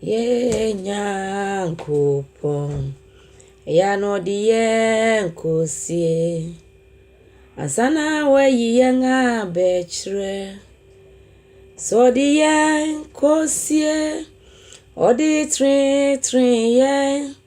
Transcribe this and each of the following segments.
Yɛɛ Nyankopɔn, yɛ a na ɔde yɛɛ nkosie. Ansa na wayi yɛn abɛkyerɛ, sɛ ɔde yɛn nkosie, ɔde treetreeɛ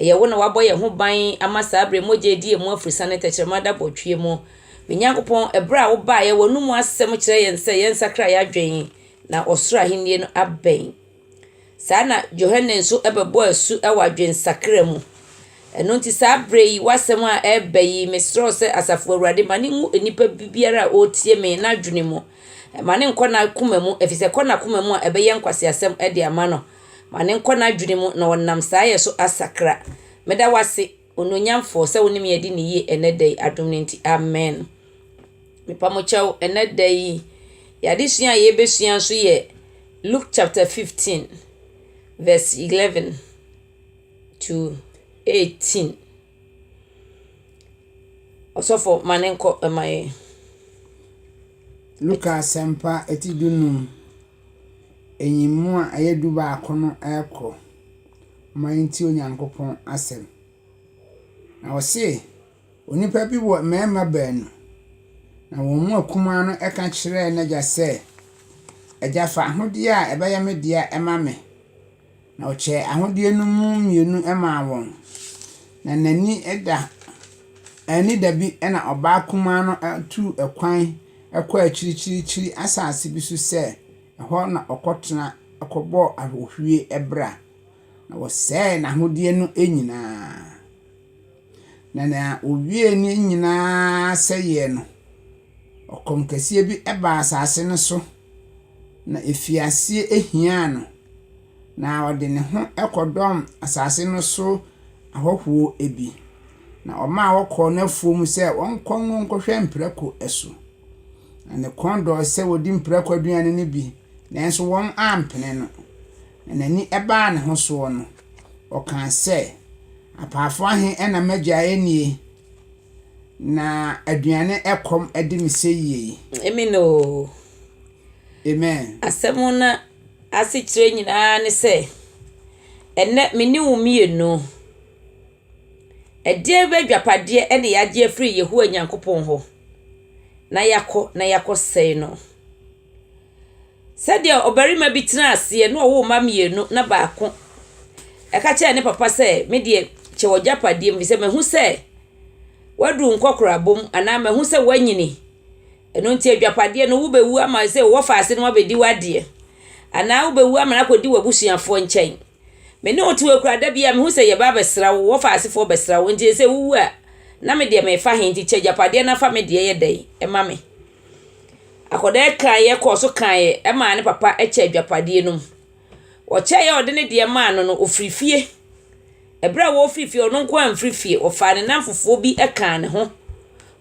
Ɛyɛ wo na woabɔ yɛn ho ban ama saa bere mogya a edi yɛn mu afurisa ne tɛkyerɛma da bɔtwea mu. Me Nyankopɔn, bere a wobaeɛ, w'anomu asɛm kyerɛɛ yɛn sɛ yɛnsakra yɛn adwene na ɔsoro ahennie no abɛn. Saa ara na Yohane nso bɛbɔɔ asu wɔ adwensakra mu. Ɛno nti saa bere yi, w'asɛm a ɛreba yi, mesrɛ sɛ Asafo Awurade, ma no ngu nnipa biara a ɔretie me no adwene mu. Mma no nnkɔ n'akoma mu, efisɛ ɛkɔ n'akoma mu a ɛbɛyɛ nkwaseasɛm de ama no. Ma no nkɔ n'adwene mu na ɔnam saa yɛ so asakra. Meda wo ase, Onuonyamfoɔ, sɛ wo ne me adi no yie ɛnnɛ da yi, adom no nti. Amen. Mepa mo kyɛw, ɛnnɛ da yi, yɛn adesua a yɛbɛsua nso yɛ Luke chapter 15, verse 11 to 18. Ɔsɔfo, ma no nkɔ ɛma yɛn. Luka Asɛmpa ɛti du num, Nyiyimu a ɛyɛ dubaako no rekɔ ma yɛntie Onyankopɔn asɛm. Na ɔse, onipa bi wɔ mmarima baanu, na wɔn mu akumaa no ka kyerɛɛ n'agya sɛ, 'Agya fa ahodeɛ a ɛbɛyɛ me dea ma me. Na ɔkyɛɛ ahodeɛ no mu mmienu maa wɔn, na n'ani da anni dabi na ɔbaa kumaa no tuu kwan kɔɔ akyirikyirikyiri asase bi so sɛ ɛhɔ na ɔkɔtena kɔbɔɔ ahohwie bra, na wɔsɛee n'ahodeɛ no nyinaa. Na nea wɔwiee ne nyinaa sɛeɛ no. Ɔkɔm kɛseɛ bi baa asase no so, na ɛfii aseɛ hiaa no, na ɔde ne ho kɔdɔm asase no so ahɔhoɔ bi, na ɔmaa wɔkɔɔ n'afuom sɛ wɔnkɔ ngo nkɔhwɛ mprako so. Na ne kɔn dɔɔ sɛ ɔdi mprako aduane no bi, nanso wɔampene no. Na n'ani baa ne ho soɔ no, ɔkaa sɛ, Apaafoɔ ahe na m'agyaeɛ nie? Na aduane ɛkɔm de me sɛ yie yi. Amen oo. Amen. Asɛm no asekyerɛ nyinaa ne sɛ, ɛnnɛ me ne wo mmienu, ɛdeɛn bɛ adwapadeɛ ɛna yɛagye afiri Yehowa Nyankopɔn hɔ na yɛakɔ na yɛakɔsɛe no? Sɛdeɛ ɔbarima bi tena aseɛ na ɔwo mma mmienu na baako ka kyerɛ ne papa sɛ, me deɛ kyɛ w'agyapadeɛ mu, ɛfiri sɛ mahu sɛ woaduru nkɔkorabɔ mu anaa mahu sɛ woanyini, ɛno nti agyapadeɛ no wobɛwu ama sɛ wo wɔfaase no abɛdi w'adeɛ anaa wobɛwu ama no akɔdi w'abusuafoɔ nkyɛn. Me ne wo te hɔ yi koraa, da biara mehu sɛ yɛba abɛsra wo, wo wɔfaasefoɔ rebɛsra wo, nti sɛ wowu a, na me deɛ mefa he? Nti kyɛ agyapadeɛ no na fa me deɛ yɛ dɛn ma me. Akwadaa yi kaeɛ kɔɔ so kaeɛ maa ne papa kyɛɛ adwapadeɛ no mu. Ɔkyɛeɛ a ɔde ne deɛ maa no no, ɔfirii fie. Ɛberɛ a wɔrefiri fie no, ɔno nko ara amfiri fie. Ɔfaa ne nnamfofoɔ bi kaa ne ho.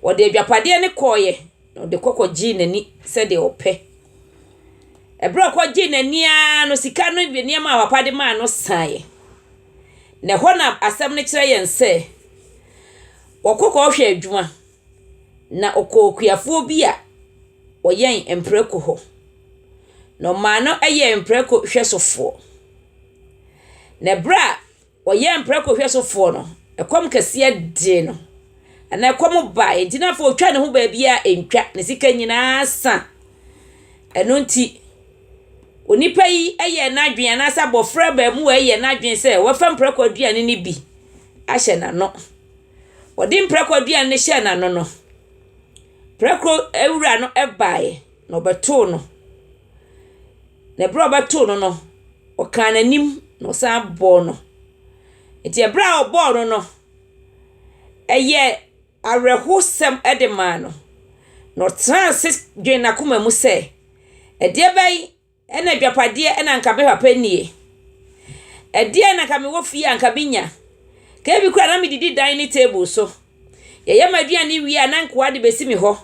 Ɔde adwapadeɛ no kɔeɛ, na ɔde kɔ kɔgyee n'ani sɛdeɛ ɔpɛ. Ɛberɛ a ɔkɔgyee n'ani ara no, sika no bi nneɛma a papa de maa no saeɛ. Na ɛhɔ na asɛm no kyerɛ yɛn sɛ, wɔkɔ kɔhwɛ adwuma. Na ɔkɔɔ okuafoɔ bi a ɔyɛn mprako hɔ. Na ɔmaa no yɛɛ mprako hwɛsofoɔ. Na berɛ a ɔyɛɛ mprako hwɛsofoɔ no, ɛkɔm kɛseɛ dee no, anaa ɛkɔm baeɛ nti na afei ɔtwaa ne ho baabiara ɛntwa, ne sika nyinaa sa. Ɛno nti, onipa yi yɛɛ n'adwene anaasɛ abɔfra abaamua yi yɛɛ n'adwene sɛ ɔbɛfa mprako aduane no bi ahyɛ n'ano. Wɔde mprako aduane no hyɛɛ n'ano no, prako wura no baeɛ na ɔbɛtoo no. Na berɛ a ɔbɛtoo no no, ɔkaa n'anim na ɔsan bɔɔ no. Enti berɛ a ɔbɔɔ no no, ɛyɛɛ awerɛhosɛm de maa no, na ɔtenaa ase dwenee n'akoma mu sɛ, Ɛdeɛbɛn? Ɛna adwapadeɛ ɛna anka me papa nnie. Ɛdeɛ na anka mewɔ fie a anka me nya. Kebi kura na me didi dan ne table so. Yɛyɛ ma aduane wie a na nkoa de bɛsi me hɔ.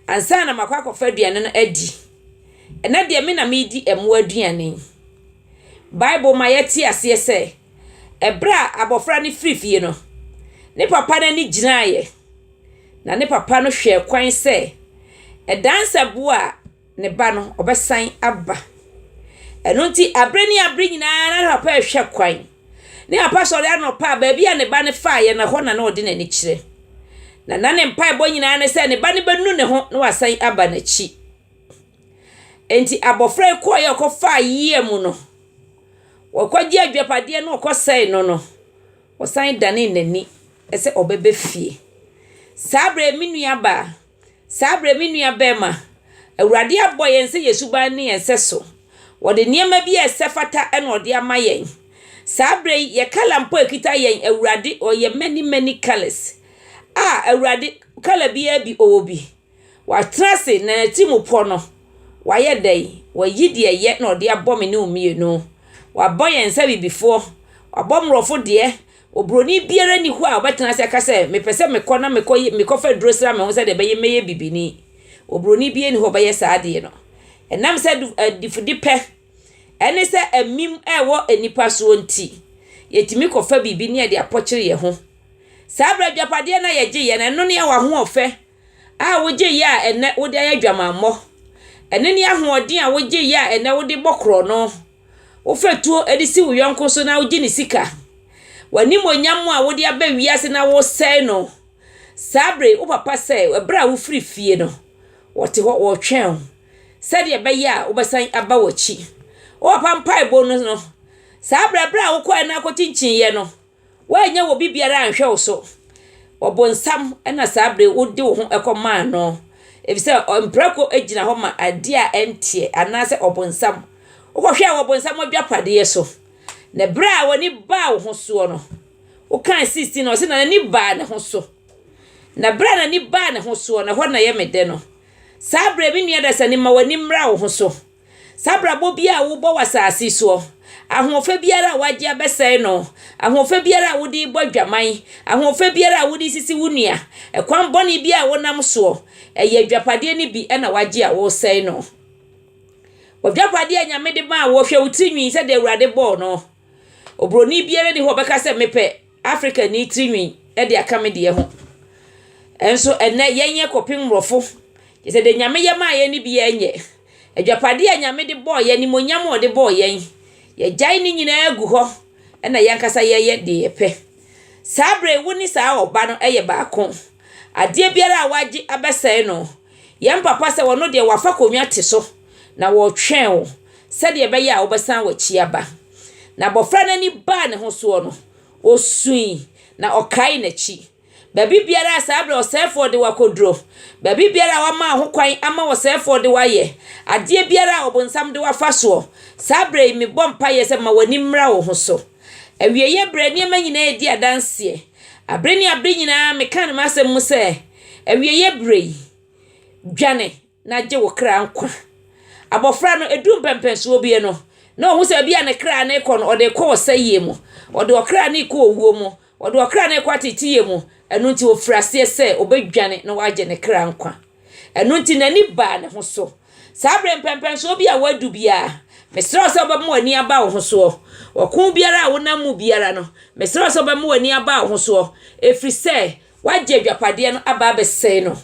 Ansa na makɔ akɔfa aduane no adi. Ɛna deɛ me na me di ɛmoa aduane. Bible ma yɛ te aseɛ sɛ ɛberɛ a abɔfra no firi fie no ne papa no ani gyinaeɛ na ne papa no hwɛɛ kwan sɛ ɛdansɛboɔ a ne ba no, ɔbɛsan aba. Ɛno nti, abere ne abere nyinaa na papa rehwɛ kwan. Ne papa sɔre anɔpa a, baabi a ne ba no faeɛ no, ɛhɔ na na ɔde n'ani kyerɛ. Na na ne mpaebɔ nyinaa ne sɛ ne ba no bɛnu ne ho na wasan aba n'akyi. Enti abɔfra yi kɔeɛ a ɔkɔfaa yea mu no, wɔkɔgye adwapadeɛ no ɔkɔsɛe no no, ɔsan danee n'ani sɛ ɔbɛba fie. Saa berɛ me nuabaa, Saa berɛ, me nua barima, Awurade abɔ yɛn sɛ yɛn suban ne yɛn sɛso. Ɔde nneɛma bi a ɛsɛ fata na ɔde ama yɛn. Saa berɛ yi, yɛ kala mpo a ɛkita yɛn Awurade ɔyɛ many many colors. A, Awurade, kala biara bi ɔwɔ bi. Watena ase na n'atirimpɔ no, wayɛ dɛn? Wayi deɛ ɛyɛ na ɔde abɔ me ne wo mmienu. Wabɔ yɛn sɛ abibifoɔ. Wabɔ mmorɔfo deɛ, Oburoni biara nni hɔ a ɔbɛtena ase aka sɛ, Mepɛ sɛ mekɔ na mekɔ yɛ, mekɔfa aduro sra me ho sɛdeɛ ɛbɛyɛ mɛyɛ bibini. Oburoni biara nni hɔ a ɔbɛyɛ saa adeɛ no. Ɛnam sɛ adu, adifudepɛ ne sɛ amim a ɛwɔ nnipa soɔ nti, yɛtumi kɔfa biribi ne yɛde apɔkyere yɛn ho. Saa berɛ adwapadeɛ no a yɛgyeeɛ no, ɛno ne w'ahoɔfɛ a wogyeeɛ a ɛnnɛ wode ayɛ adwamammɔ. Ɛno ne ahoɔden a wogyeeɛ a ɛnnɛ wode bɔ korɔno. Wofa tuo de si wo yɔnko so na wogye ne sika. W'animuonyam a wode aba wiase na wosɛe no. Saa bere yi, wo papa sɛ bere a wofiri fie no, wɔte hɔ wɔretwɛn wo sɛdeɛ ɛbɛyɛ a wobɛsan aba wɔn akyi. Wo papa mpaebɔ no no, saa bere bere a wokɔɛ na wokɔkyinkyiiɛ no, Woannya obi biara anhwɛ wo so. Ɔbonsam na saa bere yi wode wo ho kɔmaa no, efisɛ mprako gyina hɔ ma ade a ɛnteɛ anaasɛ ɔbonsam. Wokɔhwɛɛ ɔbonsam agyapade so, na bere a w'ani baa wo ho soɔ no, wokae 16 ɔse na n'ani baa ne ho so. Na bere a n'ani baa ne ho soɔ no, ɛhɔ na ɛyɛ me dɛ no. Saa bere me nua dasani ma w'ani mmra wo ho so. Saa abrabɔ biara a wobɔ wɔ asase yi soɔ, ahoɔfɛ biara a wagye abɛsɛe no, ahoɔfɛ biara a wode rebɔ adwaman, ahoɔfɛ biara a wode resisi wo nua, ɛkwan bɔne biara a wonam soɔ, ɛyɛ adwapadeɛ no bi na wagye a woresɛe no. W'adwapadeɛ a Nyame de maa wo, hwɛ wo tirinwi sɛdeɛ Awurade bɔɔ no. Oburoni biara nni hɔ a ɔbɛka sɛ mepɛ. Afrikani tirinwi de aka me deɛ ho. Nso ɛnɛ yɛnyɛ kɔpem mmorɔfo. Kyerɛ sɛ deɛ Nyame yɛ maa yɛn no biara nyɛ. Adwapadeɛ a Nyame de bɔɔ yɛn, animuonyam a ɔde bɔɔ yɛn, yɛgyae ne nyinaa gu hɔ na yɛn ankasa yɛyɛ deɛ yɛpɛ. Saa berɛ yi wo ne saa ɔba no yɛ baako. Adeɛ biara a wagye abɛsɛe no, yɛn papa sɛ ɔno deɛ wafa konwa te so na ɔretwɛn wo sɛdeɛ ɛbɛyɛ a wobɛsan w'akyi aba. Na abɔfra no ani baa ne ho soɔ no, ɔsui, na ɔkae n'akyi. Baabi biara a saa berɛ ɔsɛefoɔ de wo akɔduro, baabi biara a wɔama wo ho kwan ama ɔsɛefoɔ de wo ayɛ, adeɛ biara a ɔbonsam de wo afa soɔ, saa berɛ yi mebɔ mpaeɛ sɛ ma w'ani mmra wo ho so. Awieeɛ berɛ, nneɛma nyinaa redi adanseɛ. Abere ne abere nyinaa meka no m'asɛm mu sɛ, Awieeɛ berɛ yi, dwane! na gye wo kra nkwa. Abɔfra no, ɛduu mpɛmpɛnsoɔ bie no, na ɔhu sɛ baabi a ne kra no rekɔ no, ɔde rekɔ ɔsɛeɛ mu. Ɔde ɔkra no rekɔ owuo mu. Ɔde ɔkra no rekɔ ateeteyɛ mu. Ɛno nti, ɔfirii aseɛ sɛ ɔbɛdwane na wagye ne kra nkwa. Ɛno nti, n'ani baa ne ho so. Saa berɛ mpɛmpɛnsoɔ bi a woadu biara, mesrɛ wo sɛ wobɛma w'ani aba wo ho soɔ. Ɔko biara a wonam mu biara no, mesrɛ wo sɛ wobɛma w'ani aba wo ho soɔ, ɛfiri sɛ, Woagye agyapadeɛ no aba abɛsɛe no.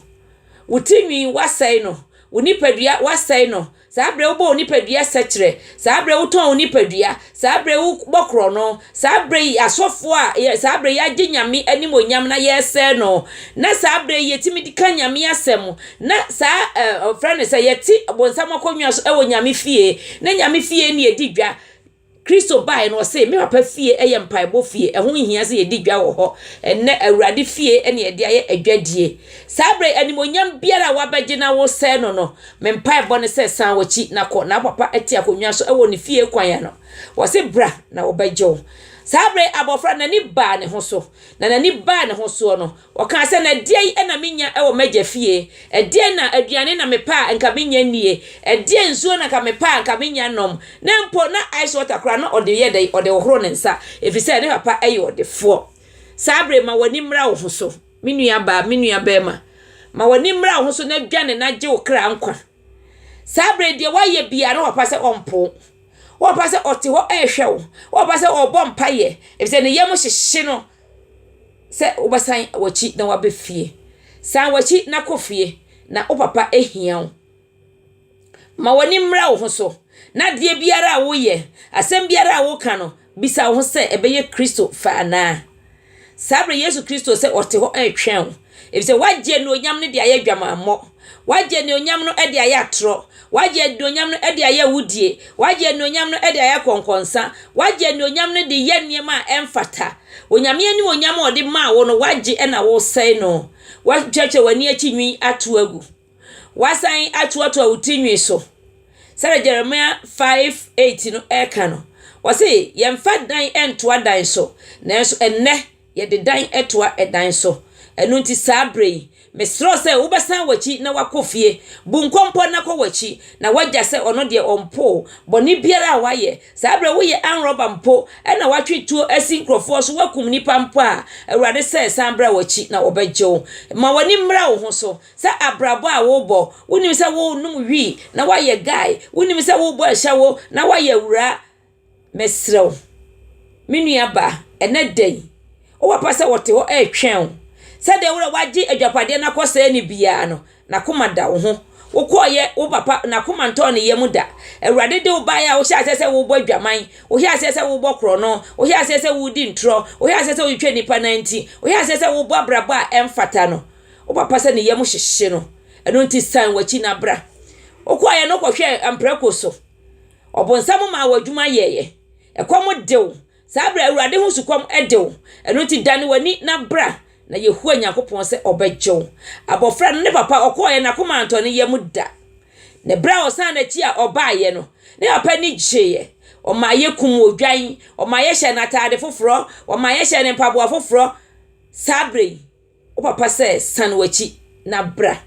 Wo ti nwi, woasɛe no. Wo nipadua, woasɛe no. Saa berɛ wobɔ wo nipadua sɛkyerɛ. Saa berɛ wotɔn wo nipadua. Saa berɛ wobɔ korɔno. Saa berɛ yi, asɔfoɔ a, yɛ, saa berɛ yɛagye Nyame animuonyam na yɛresɛe no. Na saa berɛ yi, yɛtumi de ka Nyame asɛm. Na saa, ɛ, ɔfrɛ no sɛ, yɛte bonsam akonnwa so wɔ Nyame fie. Na Nyame fie ne yɛdi dwa. Kristo bae no, ɔse, Me Papa fie yɛ mpaebɔ fie, ɛho nhia sɛ yɛdi dwa wɔ hɔ. Ɛnnɛ, Awurade fie na yɛde ayɛ adwadie. Saa berɛ yi, animuonyam biara a woabɛgye na woresɛe no no, me mpaebɔ ne sɛ, san w'akyi na kɔ. Na wo Papa te akonnwa so wɔ ne fie kwan ano. Ɔse, Bra, na wɔbɛgye wo. Saa berɛ yi, abɔfra no, n'ani baa ne ho so, na n'ani baa ne ho soɔ no, Ɔkaa sɛ, Na deɛn na menya wɔ m'agya fie? Ɛdeɛn na aduane na mepɛ a nka menya nnie? Ɛdeɛn nsuo na nka mepɛ a nka menya nnom? Na mpo na ice water koraa na ɔde yɛ dɛn? Ɔde hohoro ne nsa, ɛfiri sɛ ne papa yɛ ɔdefoɔ. Saa berɛ yi, ma w'ani mmra wo ho so, me nuabaa, me nuabarima. Ma w'ani mmra wo ho so na dwane na gye wo kra nkwa. Saa berɛ yi, deɛ woayɛ biara, na wo papa sɛ ɔmpo wo. Wo papa sɛ ɔte hɔ rehwɛ wo. Wo papa sɛ ɔrebɔ mpaeɛ, ɛfiri sɛ ne yam hyehye no. sɛ wobɛsan w'akyi na woaba fie. San w'akyi na kɔ fie, na wo papa hia wo. Ma w'ani mmra wo ho so, na adeɛ biara a woyɛ, asɛm biara a woka no, bisa wo ho sɛ ɛbɛyɛ Kristo fɛ anaa. Saa berɛ Yesu Kristo sɛ ɔte hɔ retwɛn wo. Efisɛ wɔagye anuonyam no de ayɛ adwamammɔ, wɔagye anuonyam no de ayɛ atorɔ, wɔagye anuonyam no de ayɛ awudie, wɔagye anuonyam no de ayɛ akɔnkɔnsa, wɔagye anuonyam no de yɛ nneɛma a ɛmfata. Onyame animuonyam a ɔde maa wo no, woagye na woresɛe no. Woatwitwatwa w'ani akyi nwi ato agu. Woasan atoatoa wo ti nwi so. Sɛdeɛ Jeremia 5, 8 no ka no, ɔse, Yɛmfa dan ntoa dan so, nanso ɛnnɛ, Yɛde dan toa dan so. Ɛno nti saa berɛ yi, mesrɛ wo sɛ wobɛsan w'akyi na woakɔ fie. Bu nkɔmpɔ na kɔ w'akyi na w'agya sɛ ɔno deɛ ɔmpo wo. Bɔne biara a woayɛ, saa berɛ woyɛ armed robber mpo na woatwe tuo asi nkurɔfoɔ so, woakum nnipa mpo a, Awurade sɛ san bra w'akyi na wɔbɛgye wo. Ma w'ani mmra wo ho so sɛ abrabɔ a worebɔ, wonim sɛ worenom wii na woayɛ guy, wonim sɛ worebɔ ashawo na woayɛ awuraa, Mesrɛ wo, me nua baa, ɛnnɛ da yi, wowɔ papa sɛ wɔte hɔ retwɛn wo. Sɛdeɛ wura wagye adwapadeɛ no akɔsɛe no biara no, n'akoma da wo ho. Wokɔɔyɛ wo papa, n'akoma ntɔɔ ne yam da. Awurade de wo baeɛ a wohyɛ aseɛ sɛ wobɔ adwaman, wohyɛ aseɛ sɛ wobɔ korɔno, wohyɛ aseɛ sɛ wodi ntorɔ, wohyɛ aseɛ sɛ wotwitwa nnipa nan nti, wohyɛ aseɛ sɛ wobɔ abrabɔ a ɛmfata no. Wo papa sɛ ne yam hyehye no. Ɛno nti san w'akyi na bra. Wokɔɔyɛ no wokɔhwɛɛ mprako so. Ɔbonsam maa wo adwuma yɛeɛ. Ɛkɔm de wo. Saa berɛ Awurade ho sukɔm de wo. Ɛno nti dane w'ani na bra, na Yehowa Nyankopɔn sɛ ɔbɛgye wo. Abɔfra no, ne papa, ɔkɔeɛ, n'akoma antɔ ne yam da. Na berɛ a ɔsan n'akyi a ɔbaeɛ no, ne papa ani gyeeɛ. Ɔmaa yɛkum odwan, ɔmaa yɛhyɛɛ no ataade foforɔ, ɔmaa yɛhyɛɛ no mpaboa foforɔ saa berɛ yi. wo papa sɛ, 'San w'akyi na bra,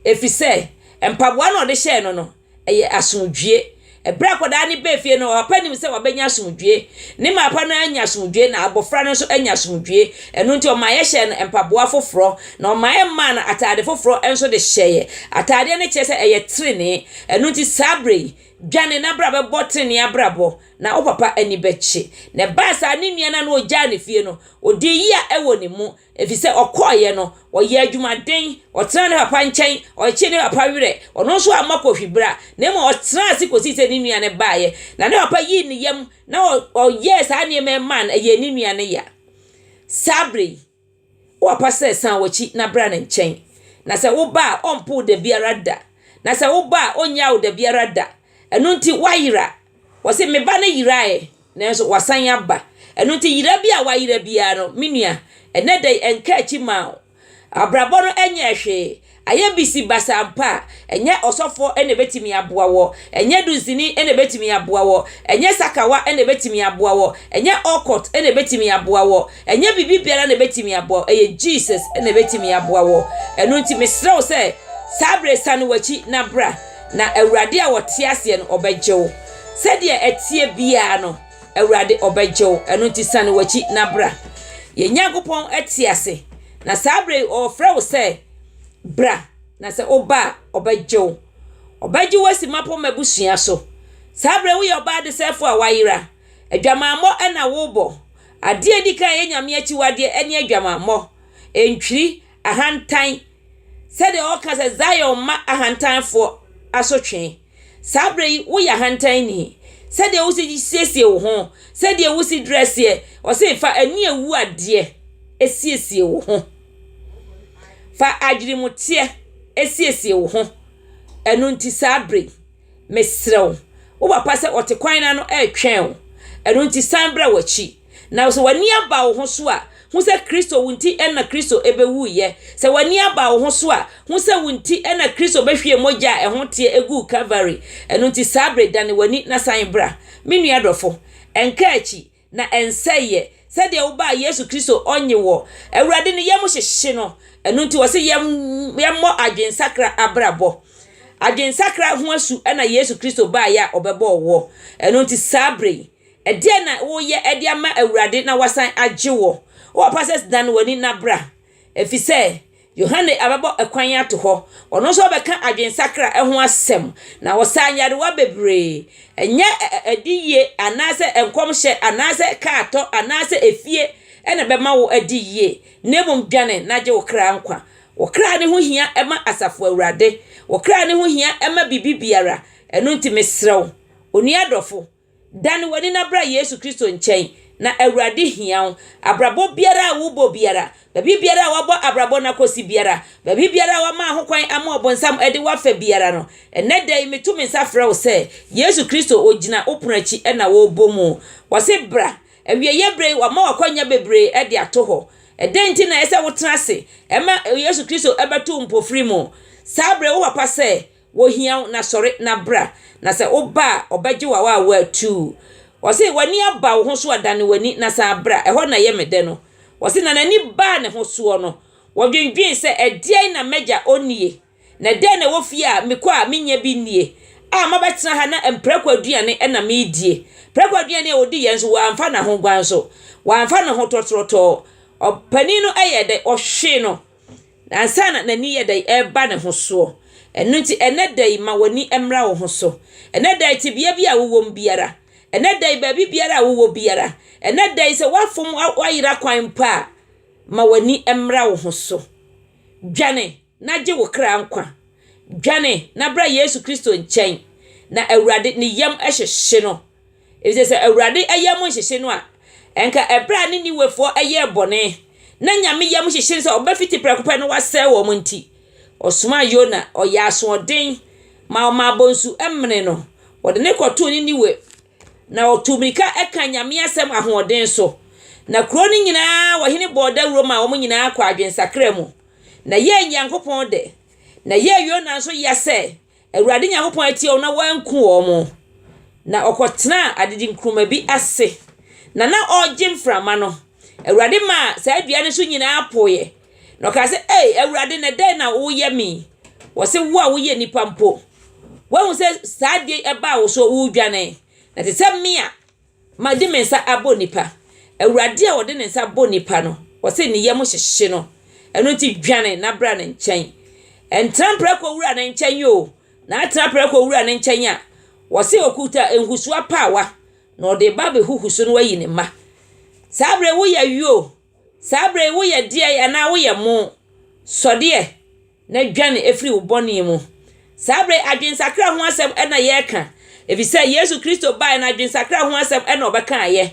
efisɛ mpaboa no a ɔde hyɛɛ no no, ɛyɛ asomdwoe. Bere a akwadaa no baa fie no, ɔpapa nim sɛ wabenya asomdwoe. Ne maapa no anya asomdwoe, na abofra no nso anya asomdwoe. Ɛno nti, ɔma yɛhyɛɛ no mpaboa foforo, na ɔma yɛmaa no atade foforo nso de hyɛe. Atade no kyerɛ sɛ ɛyɛ trenee. Ɛno nti, saa bere yi, dwane na bra bɛbɔ trenee abrabɔ. na wo papa ani bɛkye. Na ɛbaa saa, ne nua no a na ɔgyaa ne fie no, ɔdii yea wɔ ne mu, ɛfiri sɛ ɔkɔeɛ no, ɔyɛɛ adwumaden, ɔtenaa ne papa nkyɛn, ɔkyekyee ne papa werɛ, ɔno nso amma kohwibra, na mmom ɔtenaa ase kɔsii sɛ ne nua no baeɛ, na ne papa yii ne yam, na ɔyɛɛ saa nneɛma yi maa no, ɛyɛɛ ne nua no ya. Saa berɛ yi. Ɔapa sɛ, 'San w'akyi na bra ne nkyɛn. Na sɛ woba a, ɔrempo wo da biara da. Na sɛ woba a, ɔrennyaa wo da biara da. Ɛno nti, woayera. Ɔse, 'Me ba no yerae, ɛ, nanso wasan aba. Ɛno nti, yera bi a wayera biara no, me nua, ɛnnɛ da yi, ɛnka akyi mma wo. Abrabɔ no nyɛɛ hwee. Ayɛ bisibasaa mpo a, ɛnyɛ ɔsɔfoɔ na ɛbɛtumi aboa woɔ, ɛnyɛ dunsini na ɛbɛtumi aboa woɔ, ɛnyɛ sakawa na ɛbɛtumi aboa woɔ, ɛnyɛ ocult na ɛbɛtumi aboa woɔ, ɛnyɛ biribi biara na ɛbɛtumi aboa wo, ɛyɛ Jesus na ɛbɛtumi aboa woɔ. Ɛno nti mesrɛ wo sɛ, saa berɛ yi sane w'akyi na bra, na Awurade a ɔte aseɛ no, ɔbɛgye wo. Sɛdeɛ ɛteɛ biara no, Awurade ɔbɛgye wo, ɛno nti sane w'akyi na bra. Yɛn Nyankopɔn te ase. Na saa berɛ yi ɔrefrɛ wo sɛ, Bra, na sɛ woba a, ɔbɛgye wo. Ɔbɛgye wo asi mmapɔmma abusua so. Saa berɛ yi woyɛ ɔbaa adesɛefoɔ a woayera. Adwamammɔ na worebɔ. Adeɛ a ɛdi kan a ɛyɛ Nyame akyiwadeɛ ne adwamammɔ, ntwiri, ahantan, sɛdeɛ ɔreka sɛ, Zion mma ahantanfoɔ asotwe. Saa berɛ yi woyɛ ahantanni. Sɛdeɛ wosi siesie wo ho, sɛdeɛ wosi drɛseɛ, ɔse fa ani awu adeɛ siesie wo ho. Fa adweremuteɛ siesie wo ho. Ɛno nti saa berɛ yi, mesrɛ wo, wo papa sɛ ɔte kwan no ano ɛretwɛn wo. Ɛno nti san bra w'akyi. Na sɛ w'ani aba wo ho so a, hu sɛ Kristo wo nti na Kristo bɛwuiɛ. Sɛ w'ani aba wo ho so a, hu sɛ wo nti na Kristo bɛhwiee mogya a ɛho teɛ guu Kalvary. Ɛno nti saa bere, dane w'ani na san bra. Me nua dɔfo, ɛnkaa akyi, na ɛnsɛeɛ. Sɛdeɛ wobaa Yesu Kristo ɔnnye wɔ Awurade no yam hyehye no. Ɛno nti wɔse yɛm yɛmmɔ adwensakra abrabɔ. Adwensakra ho asu na Yesu Kristo baeɛ a ɔbɛbɔɔ woɔ. Ɛno nti saa bere yi. Ɛdeɛn na woreyɛ de ama Awurade na wasan agye wo? Wowɔ passes dan w'ani na bra, ɛfiri sɛ Yohane abɛbɔ ɛkwan ato hɔ. Ɔno nso ɔbɛka adwensakra ho asɛm, na ɔsaa nyarewa bebree. Ɛnyɛ adiyie anaasɛ nkɔmhyɛ anaasɛ kaa tɔ anaasɛ efie na ɛbɛma wo adi yie, na mmom dwane na gye wo kra nkwa. Wo kra no ho hia ma Asafo Awurade. Wo kra no ho hia ma biribi biara. Ɛno nti mesrɛ wo, onua dɔfo, Dan w'ani na bra Yesu Kristo nkyɛn, na Awurade hia wo. Abrabɔ biara a wobɔ biara, baabi biara a wabɔ abrabɔ no akɔsi biara, baabi biara a wama ahokwan ama ɔbonsam de wo afa biara no, ɛnnɛ da yi meto me nsa frɛ wo sɛ, Yesu Kristo ɔgyina wo pono akyi na ɔrebɔ mu. Ɔse bra. Awieɛ berɛ yi wama w'akwanya bebree de ato hɔ. Ɛdɛn nti na ɛsɛ sɛ wotena ase ma Yesu Kristo bɛto wo mpofiri mu? Saa berɛ yi wo papa sɛ, Wohia wo na sɔre na bra. Na sɛ woba a, ɔbɛgye wo awaa wo atuu. Ɔse, w'ani aba wo ho so a, dane w'ani na san bra. Ɛhɔ na ɛyɛ me dɛ no. Ɔse, na n'ani baa ne ho soɔ no, wɔdwendwen sɛ, Ɛdeɛn na m'agya ɔnnie? Na ɛdeɛn na ɛwɔ fie a mekɔ a mennya bi nnie? A mabɛtena ha na mprako aduane na meredie. Prako aduane a ɔdi yɛ nso, wamfa n'ahoguan so. Wamfa ne ho tɔtorɔtɔɔ. Ɔpanin no yɛɛ dɛ? Ɔhwee no. Ansa na n'ani yɛ dɛ reba ne ho soɔ. Ɛno nti, ɛnnɛ da yi ma w'ani mmra wo ho so. Ɛnnɛ da yi, tebea bi a wowɔ mu biara, ɛnnɛ da yi, baabi biara a wowɔ biara, ɛnnɛ da yi, sɛ woafom, woayera kwan mpo a, ma w'ani mmra wo ho so. Dwane na gye wo kra nkwa. Dwane na bra Yesu Kristo nkyɛn, na Awurade, ne yam hyehye no. Efisɛ sɛ Awurade yam nhyehye no a, ɛnka bere a Ninewefoɔ yɛɛ bɔne, na Nyame yam hyehye no sɛ ɔbɛfiti prɛko pɛ na wasɛe wɔn nti, ɔsomaa Yona, ɔyɛɛ asoɔden ma ɔmaa bonsu menee no, wɔde no kɔtoo Ninewe, na ɔtuu mmirika kaa Nyame asɛm ahoɔden so. Na kuro no nyinaa ɔhene bɔɔ dawuro maa wɔn nyinaa kɔɔ adwensakra mu, na ɛyɛɛ Nyankopɔn dɛ, na ɛyɛɛ Yona nso ya sɛ Awurade Nyankopɔn atie wɔn na wanku wɔn. Na ɔkɔtenaa adedi nkruma bi ase, na na ɔregye mframa no. Awurade maa saa dua no so nyinaa poeɛ. Na ɔkaa sɛ, Ei, Awurade, na dɛn na woyɛ me? Wɔse, Wo a woyɛ nnipa mpo, woahu sɛ saa adeɛ yi baa wo so a woredwane, na te sɛ me a Made me nsa abɔ nnipa. Awurade a ɔde ne nsa bɔ nnipa no, ɔse ne yam hyehye no. Ɛno nti dwane na bra ne nkyɛn. Ɛntra mprako wura no nkyɛn o, na atra prako wura no nkyɛn a, ɔse ɔkuta nhusu apaawa, na ɔde reba abɛhuhuso na wayi ne mma. Saa berɛ yi woyɛ yɔɔ, Saa berɛ yi woyɛ deɛn anaa woyɛ mo? Sɔdeɛ na dwane firi wo bɔne mu. Saa berɛ yi adwensakra ho asɛm na yɛreka, ɛfiri sɛ Yesu Kristo baeɛ no adwensakra ho asɛm na ɔbɛkaeɛ.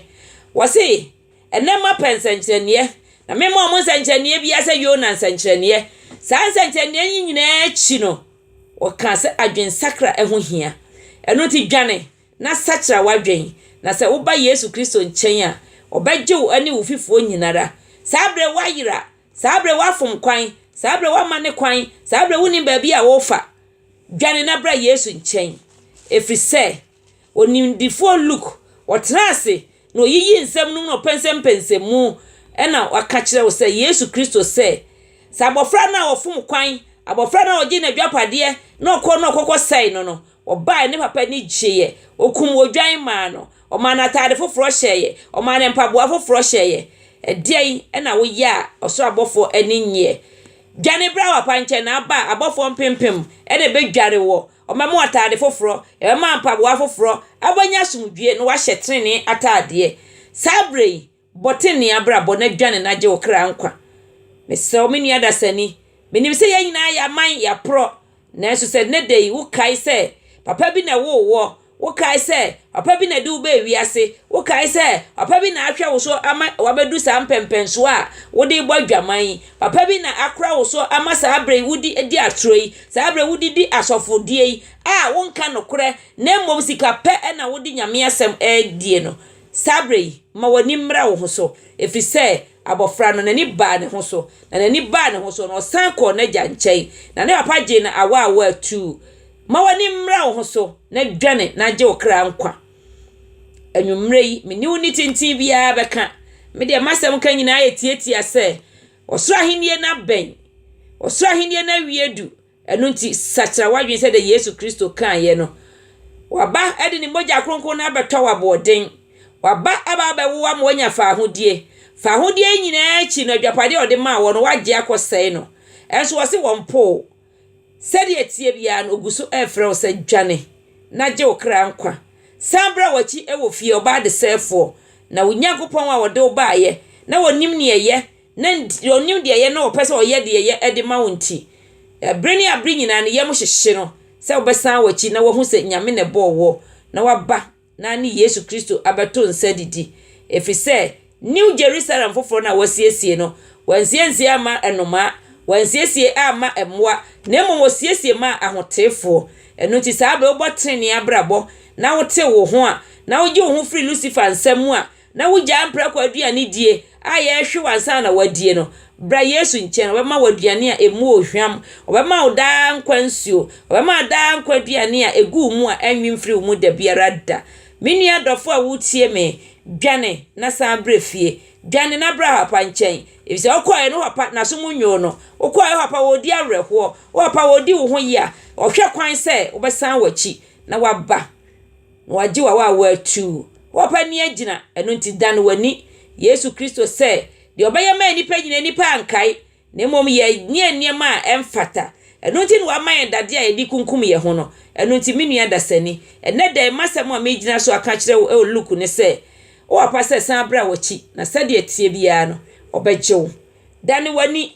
Wɔse, ɛnnɛ moapɛ nsɛnkyerɛnneɛ, na memmaa mo nsɛnkyerɛnneɛ biara sɛ Yona nsɛnkyerɛnneɛ. Saa nsɛnkyerɛnneɛ yi nyinaa akyi no, wɔka sɛ adwensakra ho hia. Ɛno nti dwane na sakyera w'adwen, na sɛ woba Yesu Kristo nkyɛn a, ɔbɛgye wo ne wo fifoɔ nyinara. Saa berɛ woayera, saa berɛ woafom kwan, saa berɛ woamane kwan, saa berɛ wonim baabi a worefa. Dwane na bra Yesu nkyɛn, ɛfiri sɛ onimdifoɔ Luke, ɔtenaa ase na ɔyiyii nsɛm nom na ɔpɛnsɛmpɛnsɛm mu na waka kyerɛ wo sɛ Yesu Kristo sɛ, sɛ abɔfra no a ɔfom kwan, abɔfra no a ɔgyee n'adwapadeɛ na ɔkɔ na ɔkɔkɔsɛe no no, Wɔbaeɛ, ne papa ani gyeeɛ. Wɔkum odwan maa no. Wɔmaa no ataade foforɔ hyɛeɛ. Wɔmaa no mpaboa foforɔ hyɛeɛ. Ɛdeɛn na woyɛ a ɔsoro abɔfoɔ ani nnyeɛ? Dwane bra wo papa nkyɛn na aba a, abɔfoɔ mpempem na ɛbɛdware woɔ. Wɔbɛma wo ataade foforɔ, yɛbɛma wo mpaboa foforɔ, na wobɛnya asomdwoeɛ na woahyɛ tenenee ataadeɛ. Saa berɛ yi, Bɔ tenenee abrabɔ na dwane na gye wo kra nkwa. Mesrɛ wo, me nua dasani, menim sɛ yɛn nyinaa yɛaman, yɛaporɔ, nanso sɛ nnɛ da yi wokae sɛ papa bi na ɛwoo woɔ, wokae sɛ papa bi na ɛde wo baa wiase, wokae sɛ papa bi na ahwɛ wo so ama woabɛduru saa mpɛmpɛnsoɔ a wode rebɔ adwaman yi, papa bi na akora wo so ama saa berɛ yi wode di atorɔ yi, saa berɛ wode di asɔfodie yi a wonka nokorɛ na mmom sika pɛ na wode Nyame asɛm die no, Saa berɛ yi, ma w'ani mmra wo ho so, ɛfiri sɛ abɔfra no, n'ani baa ne ho so, na n'ani baa ne ho so no, ɔsan kɔɔ n'agya nkyɛn, na ne papa gyee no awaawaa tuu. Ma w'ani mmra wo ho so, na dwane na gye wo kra nkwa. Anwummerɛ yi, me ne wo nni tenten biara bɛka. Me deɛ, m'asɛm ka nyinaa yɛ tiatia sɛ, Ɔsoro Ahennie no abɛn. Ɔsoro Ahennie no awie du. Ɛno nti, sakyera w'adwene sɛdeɛ Yesu Kristo kaeɛ no. Waba de ne mogya kronkron no abɛtɔ wo aboɔden. Waba aba abɛwo wo ama woanya faahodie. Faahodie yi nyinaa akyi no, adwapadeɛ a ɔde maa woɔ no, woagye akɔsɛe no. Nso ɔse wɔmpo wo. Sɛdeɛ ɛteɛ biara no, ɔgu so refrɛ wo sɛ, Dwane na gye wo kra nkwa. San bra w'akyi wɔ fie, ɔbaa desɛefoɔ. Na wo Nyankopɔn a ɔde wo baeɛ na ɔnim deɛ ɛyɛ Ne nti, ɔnim deɛ ɛyɛ na ɔpɛ sɛ ɔyɛ deɛ ɛyɛ de ma wo nti, bere ne abere nyinaa ne yam hyehye no sɛ wobɛsan w'akyi na wahu sɛ Nyame na ɛbɔɔ woɔ na waba na ane Yesu Kristo abɛto nsa adidi. Ɛfiri sɛ New Jerusalem foforɔ no a wɔasiesie no, wɔansiesie amma nnomaa, wɔansiesie amma mmoa, na mmom wɔsiesie maa ahoteefoɔ. Ɛno nti saa berɛ wobɔ tenenee abrabɔ na wotew wo ho a, na wogye wo ho firi Lucifer nsam mu a, na wugyaa mprako aduane die a yɛrehwew ansa na woadie no, bra Yesu nkyɛn, ɔbɛma wo aduane a ɛmu wɔ hwam, ɔbɛma wo daa nkwa nsuo, ɔbɛma daa nkwa aduane a ɛgu wo mu a ɛnwe mfiri wo mu da biara da. Me nua dɔfo a woretie me, dwane na san brɛ fie. Dwane na bra wo papa nkyɛn, ɛfisɛ wokɔeɛ no wo papa n'aso mu nyoo no, wokɔeɛ wo papa ɔredi awerɛhoɔ, wo papa ɔredi wo ho yea, ɔhwɛ kwan sɛ wobɛsan w'akyi na woaba. wɔagye wo a woawo atuu. Woapa ani agyina, ɛno nti dan w'ani. Yesu Kristo sɛ, Deɛ ɔbɛyɛ maa nnipa nyina nnipa ankae, na mmom yɛnyɛɛ nneɛma a ɛmfata. Ɛno nti na wama yɛn dadeɛ a yɛde kunkum yɛn ho no. Ɛno nti me nua dasani, ɛnnɛ da yi m'asɛm a megyina so aka akyerɛ wo wɔ Luke ne sɛ, Woapa sɛ san bra w'akyi, na sɛdeɛ ɛteɛ biara no, ɔbɛgye wo. Dane w'ani.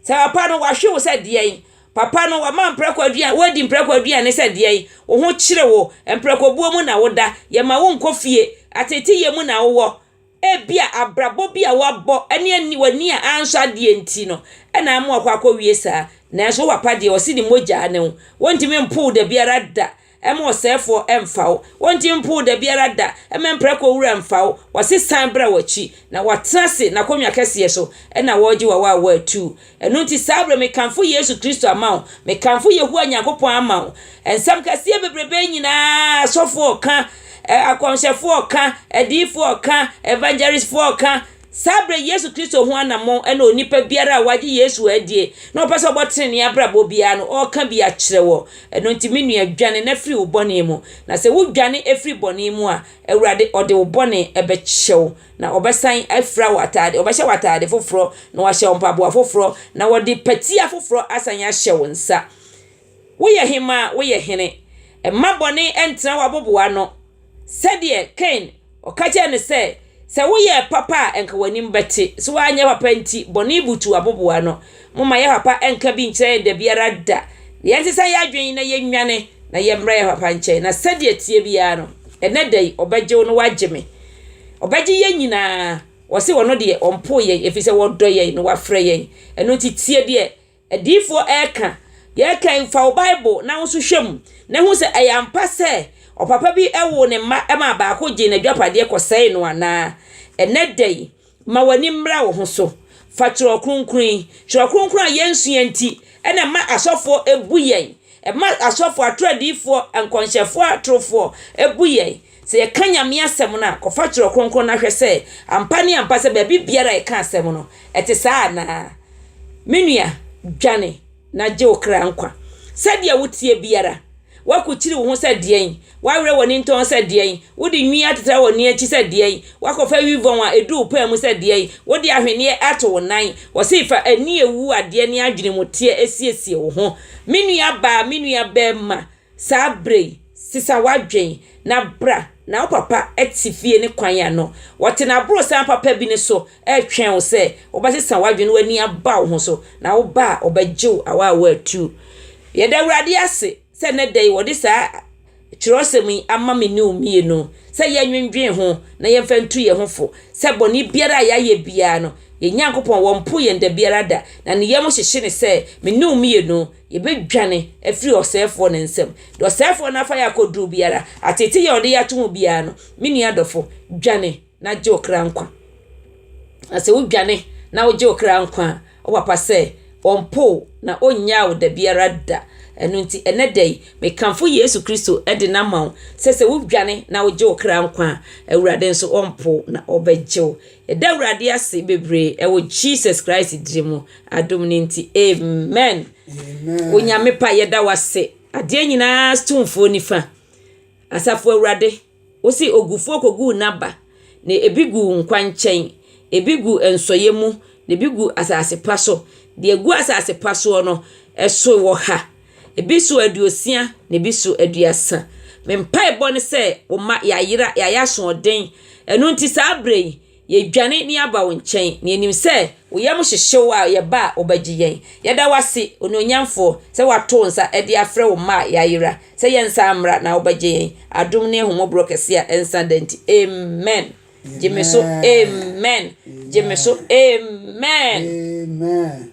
Sɛ papa no, wahwe wo sɛ deɛn? Papa no, wama mprako aduane, woadi mprako aduane sɛ deɛn? Wo ho kyere wo, mprakobuo mu na woda, yɛma wo nkɔ fie, ateeteyɛ mu na wowɔ. Ebia abrabɔ bi a woabɔ ne ani, w'ani a ansɔ adeɛ nti no na ama wakɔ akɔwie saa. Nanso wo papa deɛ, ɔse ne mogya ne wo. Wontumi mpo wo dabiara da. Mma ɔsɛefoɔ mmfa wo. Wɔnngye mpo wo da biara da. Mma mprako wura mmfa wo. Wɔse san bra w'akyi. Na wɔatena ase n'akonnwa kɛseɛ so na wɔregye w'awaawa atu. Ɛno nti saa berɛ mekamfo Yesu Kristo ama wo. Mekamfo Yehowa Nyankopɔn ama wo. Nsɛm kɛseɛ bebrebe nyinaa asɔfoɔ reka, akɔmhyɛfoɔ reka, adiyifoɔ reka, evangelistfoɔ reka, Saa berɛ yi Yesu Kristo ho anammɔn na onipa biara a wagye Yesu adie na ɔpɛ sɛ ɔbɔ tenenee abrabɔ biara no ɔreka bi akyerɛ wɔ. Ɛno nti me nua dwane na firi wo bɔne mu, na sɛ wo dwane firi bɔne mu a, Awurade ɔde wo bɔne bɛkyɛ wo, na ɔbɛsan afira wo ataade, ɔbɛhyɛ wo ataade foforɔ, na wahyɛ wo mpaboa foforɔ, na ɔde patia foforɔ asan ahyɛ wo nsa. Woyɛ hemmaa, woyɛ hene. Mma bɔne ntena w'abobow ano. Sɛdeɛ Kain, ɔka kyerɛɛ no sɛ, Sɛ woyɛɛ papa a anka w'anim bɛte. So woanyɛ papa nti, bɔne butu w'abobow ano? Momma yɛn papa nka bi nkyerɛ yɛn da biara da, na yɛnsesa yɛn adwene na yɛnnwane na yɛmmra yɛn papa nkyɛn, na sɛdeɛ ɛteɛ biara no, ɛnnɛ da yi, ɔbɛgye wo na wagye me. Ɔbɛgye yɛn nyinaa. Ɔse ɔno deɛ, ɔmpoo yɛn, ɛfiri sɛ ɔdɔ yɛn na wafrɛ yɛn. Ɛno nti, tie deɛ. Adiyifoɔ reka, Yɛrekɛn, fa wo Bible na wo nso hwɛ mu na hu sɛ ɛyɛ ampa sɛ ɔpapa bi woo ne mma maa baako gyee n'adwapadeɛ kɔsɛee no anaa. Ɛnnɛ da yi, ma w'ani mmra wo ho so. Fa Twerɛ Kronkron yi. Twerɛ Kronkron a yɛnsua nti na ɛma asɔfoɔ bu yɛn. Ɛma asɔfoɔ, atoro adiyifoɔ, nkɔnhyɛfoɔ atorofoɔ bu yɛn. Sɛ yɛka Nyame asɛm no a, kɔfa Twerɛ Kronkron no na hwɛ sɛ ampa ne ampa sɛ baabi biara a yɛka asɛm no, ɛte saa anaa. Me nua, dwane na gye wo kra nkwa. Sɛdeɛ woteɛ biara, woakokyiri wo ho sɛ deɛn? Woawerɛ w'ani ntɔn sɛ deɛn? Wode nwi atetra w'ani akyi sɛ deɛn? Woakɔfa wi vɔn a ɛdu wo paa mu sɛ deɛn? Wode ahweneɛ ato wo nan? Wɔse fa ani a ɛwu adeɛ ne adwene mu teɛ siesie wo ho. Me nuabaa, me nuabarima, Saa bere yi, sesa w'adwene na bra, na wo papa te fie ne kwan a no wɔte no aborosan papa bi no so retwɛn wo sɛ wobɛsesa w'adwene na w'ani aba wo ho so, na wo ba a ɔbɛgye wo awa a woatu. Yɛda Awurade ase sɛ nnɛ da yi wɔde saa kyerɛwsɛm yi ama me ne wo mmienu sɛ yɛnnwendwen ho na yɛmfa ntu yɛn ho fo sɛ bɔne biara a yɛayɛ biara no, yɛn Nyankopɔn wɔmpo yɛn da biara da, na ne yam hyehye no sɛ me ne wo mmienu Yɛbɛdwane afiri ɔsɛefoɔ no nsam. Deɛ ɔsɛefoɔ no afa yɛ akɔduro biara, ateetee yɛ a ɔde yɛ ato ho biara no, me nua dɔfo, dwane na gye wo kra nkwa. Na sɛ wodwane na wogye wo kra nkwa a, wo papa sɛ ɔmpo wo na ɔnnyaa wo da biara da. Ɛno nti, ɛnɛ da yi, mekamfo Yesu Kristo de no ama wo sɛ sɛ wodwane na wogye wo kra nkwa a, Awurade nso ɔmpo wo na ɔbɛgye wo. Yɛda Awurade ase bebree wɔ Jesus Christ din mu. Adom no nti amen. Onyame pa yɛda wase adeɛ nyinaa tumfoɔ nifa asafo awurade wosi ogufoɔ kogu n'aba na ebi gu nkwankyɛn ebi gu nsɔyɛ mu na ebi gu asase pa so deɛ gu asase pa soɔ no ɛso wɔ ha ebi so aduosia na ebi so aduasa me mpaebɔ ne sɛ wɔma yɛayera yɛayɛ asoɔden ɛno nti saa berɛ yi Yɛdwane na yɛaba wo nkyɛn, na yɛnim sɛ wo yam hyehye wo a, yɛba a, wobɛgye yɛn. Yɛda wo ase, Onuonyamfoɔ, sɛ woato wo nsa de afrɛ wo mma a yɛayera, sɛ yɛnsan mmra na wobɛgye yɛn. Adom ne ahummɔborɔ kɛse a ɛnsa da nti, amen. Gye me so, amen. Gye me so, amen. Amen.